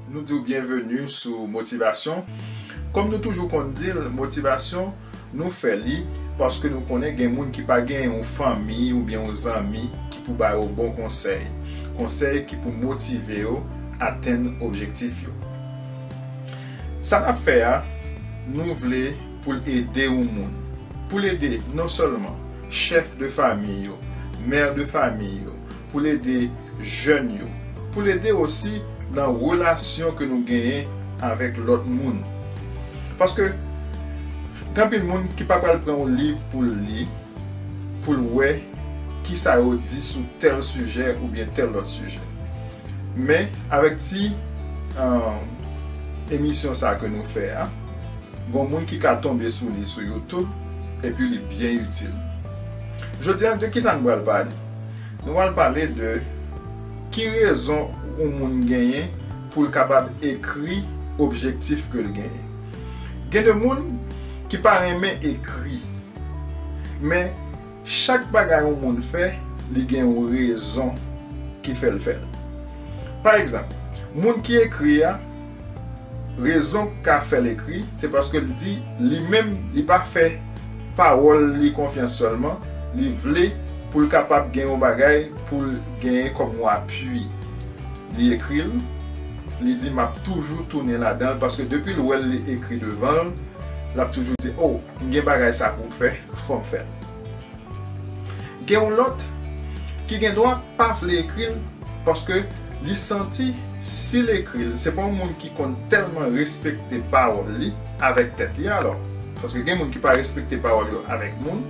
Nou diw byenveni sou motivasyon Kòm nou toujou konn dil motivasyon nou fè li paske nou konnen gen moun ki pa gen yon fanmi oubyen yon zanmi ki pou ba yo bon konsèy Konsèy ki pou motive yo atenn objektif yo. Sa n ap fè a, nou vle pou l ede yon moun, pou l ede non sèlman chèf de famiy yo, mè de famiy yo, pou l ede jèn yo, pou l ede osi nan relasyon ke nou genyen avèk lòt moun. Paske gen anpil moun ki pa pral pran yon liv pou l li, pou l wè kisa yo di sou tèl sijè oubyen tèl lòt sijè. Men avèk ti emisyon sa ke nou fè a, gon moun ki ka tonbe sou li sou youtube epi li byen itil. Jodi a de kisa nou pral pale? Nou pral pale de ki rezon yon moun genyen pou l kapab ekri objektif ke l genyen. Gen de moun ki pa renmen ekri men. Chak bagay yon moun fè, li gen yon rezon ki fè l fè l. Pa egzanp, moun ki ekri a, rezon k ka fè l ekri, se paske l di li menm li pa fè pawòl li konfyans sèlman, li vle pou l kapab gen yon bagay pou l genyen kòm yon apui. Li ekri l, li di m ap toujou tounen ladan l paske depi l wè l li ekri devan l, l ap toujou di o! M gen bagay sa pou m fè, fò m fè l. Gen yon lòt ki gen dwa pa vle ekri l paske li santi si l ekri l, se pa yon moun ki konn tèlman respekte pawòl li avèk tèt li alò. Paske gen moun ki pa respekte pawòl yo avèk moun.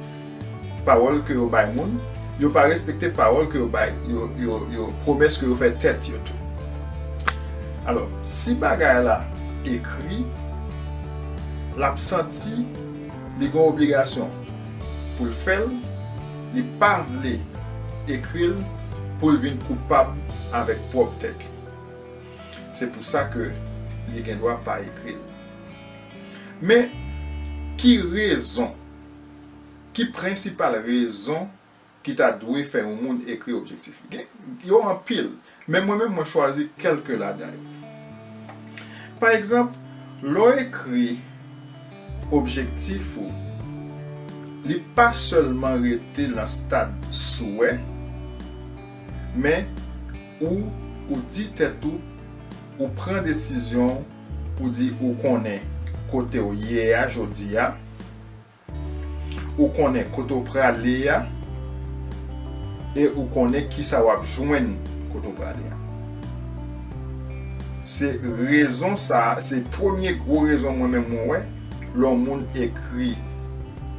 Pawòl ke yo bay moun, yo pa respekte pawòl ke yo bay, yo pwomès ke yo fè tèt yo tou. Alò, si bagay la ekri, l ap santi li gen obligasyon pou l fè l, li pa vle ekri l pou l vin koupab avèk pwòp tèt li. Se pou sa ke li gen dwa pa ekri l. Men, ki rezon Ki prensipal rezon ki ta dwe fè yon moun ekri objektif li? Gen, yo anpil, men mwen menm mwen chwazi kèlke ladan yo. Pa egzanp, lè w ekri objektif ou, li pa sèlman rete lan stad souwè, men ou, ou di tèt ou, ou pran desizyon w, ou di ou konnen kote w ye a jodi a, Ou konnen kote w prale a e ou konnen kisa w ap jwenn kote w prale a. Se rezon sa a, se premye gwo rezon mwen menm mwen wè lè yon moun ekri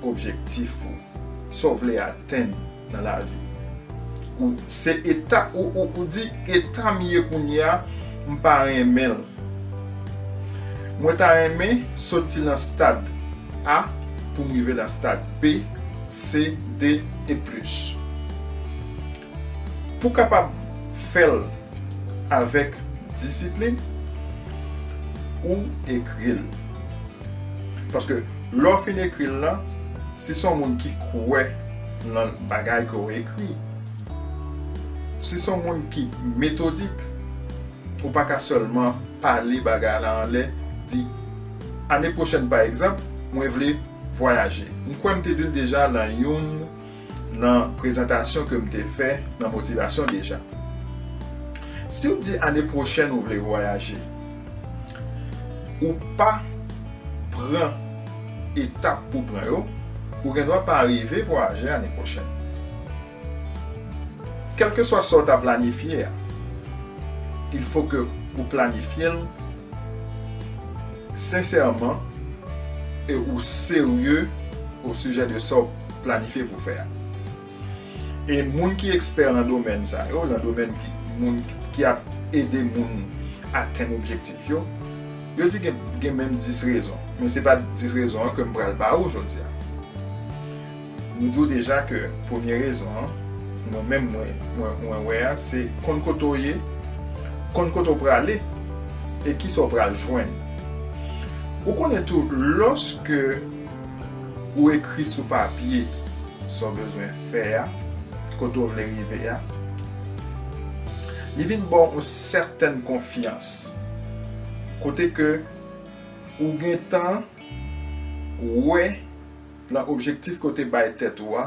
objektif ou, sa w vle atenn. nan lavi ou se eta ou di eta m ye kounye a m pa renmen l mwen ta renmen soti nan stad A pou m rive nan stad B, C, D e plis pou kapab fè l avèk disiplin ou ekri l paske lè w fin ekri l lan si son moun ki kwè. nan bagay ke w ekri. Si se yon moun ki metodik, ou pa ka sèlman pale bagay la anlè, di, Ane pwochèn pa egzanp, mwen vle vwayaje. M kwè m te di l deja nan youn nan prezantasyon ke m te fè nan motivasyon deja. Si w di ane pwochèn ou vle vwayaje, ou pa pran etap pou pran yo, ou gendwa pa rive vwayaje ane pwochèn. Kèlkeswa sa w ta planifye a, il fo ke ou planifye l sensèman e ou serye osijè de sa w planifye pou fè a. E moun ki ekspè lan domèn sa yo, lan domèn ki moun ki ap ede moun atenn objektif yo, yo di gen menm 10 rezon. Men se pa 10 rezon an ke m pral ba ou jodi a. M di w deja ke premye rezon an, mwen menm mwen wè a, se konn kote w ye, konn kote w prale, e kisa w pral jwenn. Ou konnen tou, lòske. Ou ekri sou papye sa w bezwen fè a, kote w vle rive a. Li vin ba w yon sèten konfyans, kote ke ou gen tan wè nan objektif ke w te bay tèt ou a,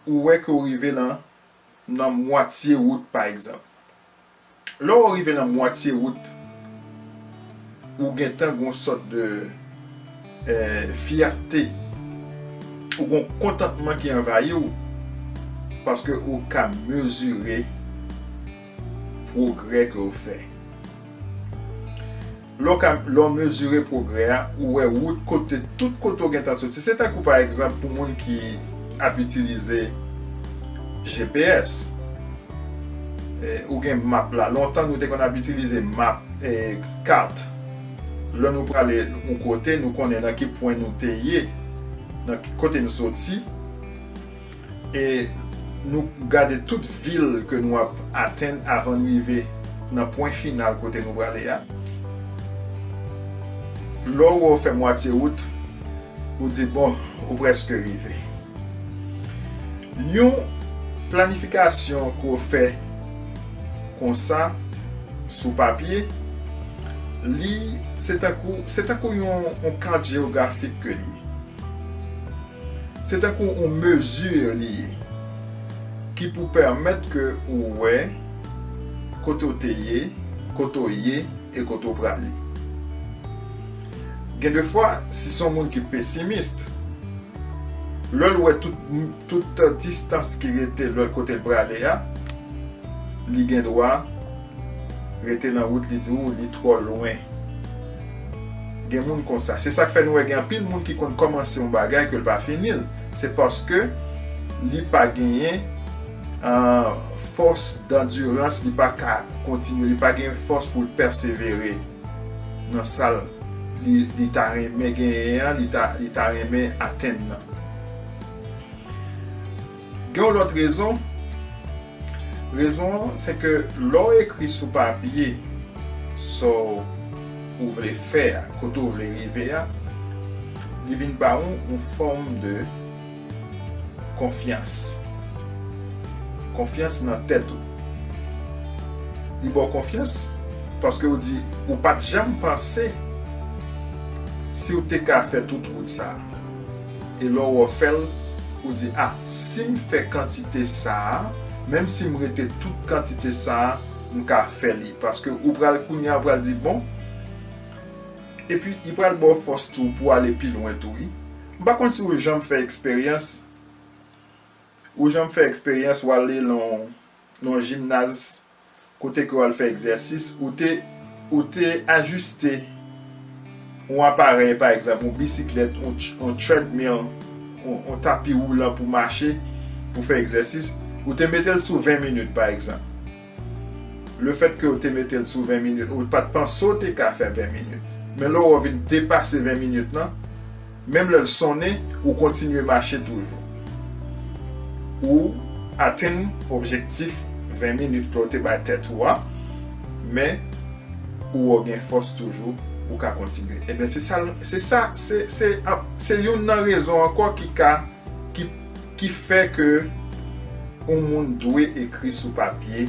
ou wè ke w rive nan mwatye wout pa egzanp. Lè ou rive nan mwatye wout ou gentan gon sòt de fyète, ou gon kontantman ki anvayi ou paske ou ka mezire pwogrè ke ou fè. Lè w ka, lè w mezire pwogrè a, ou wè wout kote tout kote w gentan soti. Se tankou pa egzanp pou moun ki ap itilize GPS. Ou gen map la. Lontan nou te konn ap itilize map, kat. Lè nou prale yon kote, nou konnen nan ki pwen nou te ye, nan ki kote n soti. E nou gade tout vil ke nou ap atenn avan n rive nan pwen final kote nou prale a. Lè w wè w fè mwatye wout, ou di bon, ou prèske rive. Yon planifikasyon ke w fè konsa sou papye, li se tankou se tankou yon kat jewografik ke li ye. Se tankou yon mesure li ye ki pou pèmèt ke ou wè kote ou te ye, kote ou ye e kote ou prale. Gen de fwa, si son moun ki pesimist, lè l wè tout distans ki rete lòt kote l prale a, li gen dwa. Rete nan wout li di ou li twò lwen. Gen moun konsa. Se sak fè nou wè gen anpil moun ki konn kòmanse yon bagay ke l pa fini l. Se paske li pa genyen fòs dandirans, li pa ka kontinye, li pa gen fòs pou l pèsevere nan sa li ta renmen genyen an, li ta renmen atenn nan. Gen yon lòt rezon, rezon an se ke lè w ekri sou papye sa w vle fè a, kote w vle rive a, li vin ba ou yon fòm de konfyans, konfyans nan tèt ou. Li ba w konfyans paske ou di ou pa t janm panse si w te ka fè tout wout sa a. E lè w refè l, ou di, A, si m fè kantite sa a, menm si m rete tout kantite sa a, m ka fè li. Paske ou pral, kounye a ou pral di, Bon. Epi, li pral ba w fòs tou pou w ale pi lwen tou wi. M pa konn si ou janm fè eksperyans, ou janm fè eksperyans w ale nan yon jimnaz kote ke w al fè egzèsis, ou te ou te ajiste yon aparèy pa egzanp yon bisiklèt, yon treadmill, yon tapi woulan pou mache, pou fè egzèsis, ou te mete l sou 20 minit pa egzanp. Le fèt ke ou te mete l sou 20 minit, ou pa t panse ou te ka fè 20 minit. Men lè ou vin depase 20 minit lan, Menm lè l sonnen, ou kontinye mache toujou. Ou atenn objektif 20 minit ke w te bay tèt ou a, men ou o gen fòs toujou, ou ka kontinye. Ebyen se sa l, se sa, se, se, se youn nan rezon ankò ki ka, ki, ki fè ke yon moun dwe ekri sou papye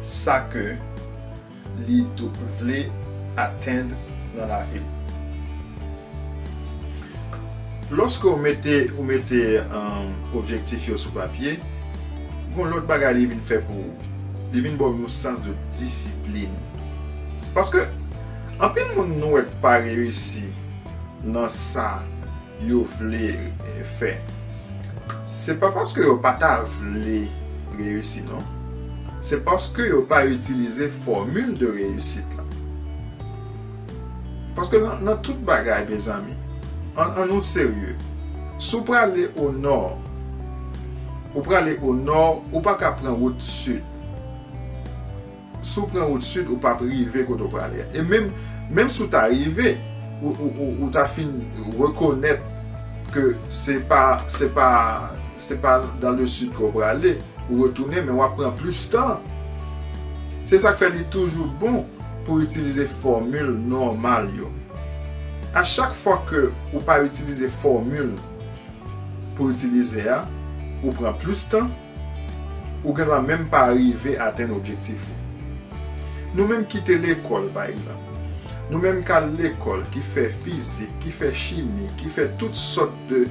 sa ke. li vle atenn nan lavi l. Lòske ou mete ou mete objektif yo sou papye, gon lòt bagay li vin fè pou ou, li vin ba w yon sans de disiplin. Paske anpil moun nou wè k pa reyisi nan sa, yo vle fè se pa paske yo pa ta vle reyisi non se paske yo pa itilize fòmil de reyisit la paske nan tout bagay mezanmi an nou serye si w prale o nò ou prale o nò ou pa ka pran wout sid. Si w pran wout sid, ou p ap rive kote w prale a. E menm, menm si w ta rive, ou ta fin rekonèt ke se pa, se pa, se pa dans le sud ke w prale, ou retounen men w ap pran plis tan. Se sa k fè li toujou bon pou itilize fòmil nòmal yo. A chak fwa ke ou pa itilize fòmil pou itilize a, ou pran plis tan. Ou gendwa menm pa rive atenn objektif ou. Nou menm ki te lekòl, pa egzanp. Nou menm k al lekòl, ki fè fizik, ki fè chimi, ki fè tout sòt de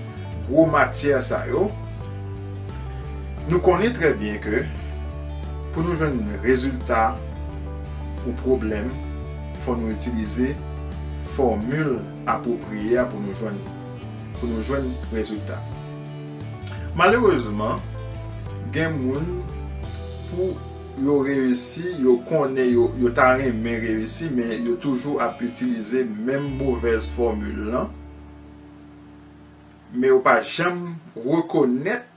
gwo matyè sa yo, nou konnen trè byen ke pou nou jwenn rezilta yon pwoblèm, fò nou itilize fòmil apwopriye a pou nou jwenn li, pou nou jwenn rezilta. Malerezman, gen moun pou yo reyisi, yo konnen yo ta renmen reyisi men yo toujou ap itilize menm movèz fòmil lan, men yo pa janm rekonèt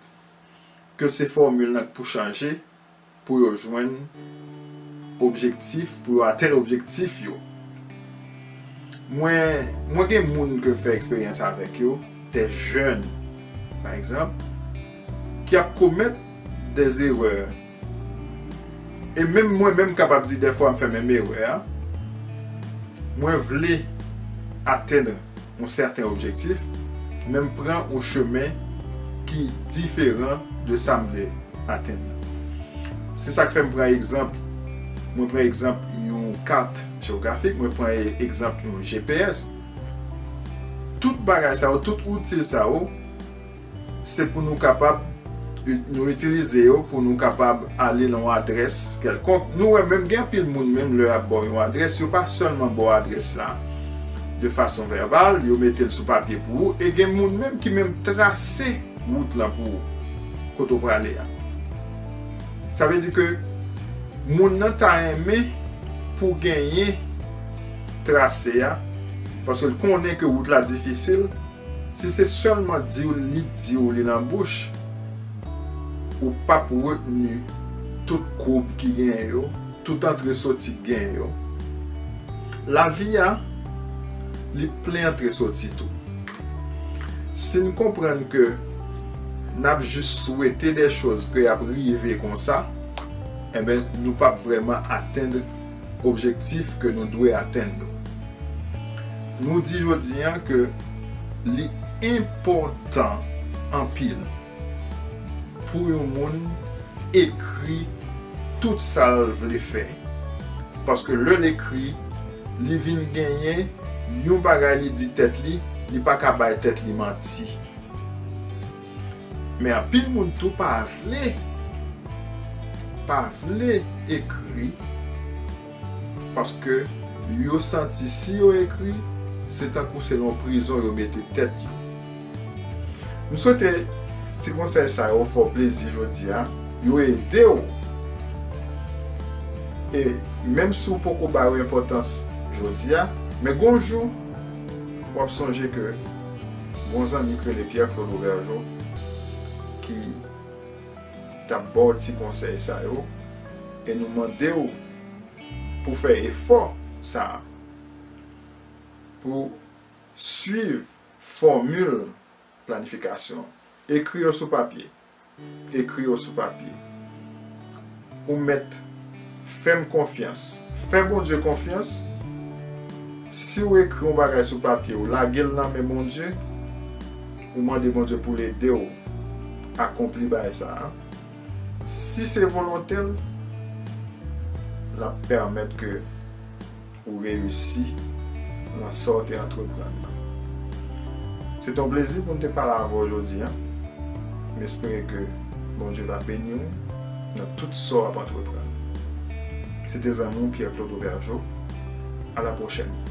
ke se fòmil lan k pou chanje. pou yo jwenn objektif, pou yo atenn objektif yo. Mwen, mwen gen moun ke m fè eksperyans avèk yo, dè jèn, pa egzanp, ki ap komèt dè erè, e menm mwen menm kapab di dèfwa m fè menm erè a, mwen vle atenn. yon sèten objektif, men m pran yon chemen ki diferan de sa m vle atenn nan. Se sa k fè m pran egzanp, mwen pran egzanp yon kat jewografik, mwen pran egzanp yon GPS. Tout bagay sa yo, tout outil sa yo, Se pou nou kapab nou itilize yo pou nou kapab ale nan yon adrès kèlkonk. Nou wè menm gen anpil moun menm lè y ap ba w yon adrès, yo pa sèlman ba w adrès la de fason vèbal, yo mete l sou papye pou ou e gen moun menm ki menm trase wout lan pou ou kote w prale a. Sa vle di ke moun nan ta renmen pou genyen trase a paske l konnen ke wout la difisil. Si se sèlman diw li diw li nan bouch ou pap retni tout koub ki genyen yo, tout antre soti k genyen yo. Lavi a li plen antre soti tou. Sin konprann ke nap jis swete dè choz ke yap rive konsa, enben nou pap vrèman atend. objektif ke nou dwe atenn yo. Nou di jodi an ke li enpòtan anpil pou yon moun ekri tout sa l vle fè, paske lè l ekri, li vin genyen yon bagay li di tèt li, li pa ka bay tèt li manti. Men anpil moun tou pa vle pa vle ekri paske yo santi si yo ekri se tankou se yon prizon yo mete tèt yo. M swete ti konsèy sa yo fè w plezi jodi a, yo ede w e menm si w poko ba yo enpòtans jodi a men gon jou w ap sonje ke Gon zanmi k rele Pierre Claude Aubergeau ki tap baw ti konsèy sa yo e nou mandew pou fè efò sa pou swiv fòmil planifikasyon ekri yo sou papye Ekri yo sou papye. Ou mèt fè m konfyans. Fè Bondye konfyans. Si w ekri yon bagay sou papye, ou lage l nan men Bondye, ou mande Bondye pou l ede w akonpli bagay sa a, si se volonte l, l ap pèmèt ke Ou reyisi nan sa w te antreprann nan. Se te yon plezi pou m te pale avè w jodi an. M espere ke Bondye va beni w nan tout sa w ap antreprann. Se te zanmi w Pierre Claude Aubergeau. A la pwochèn!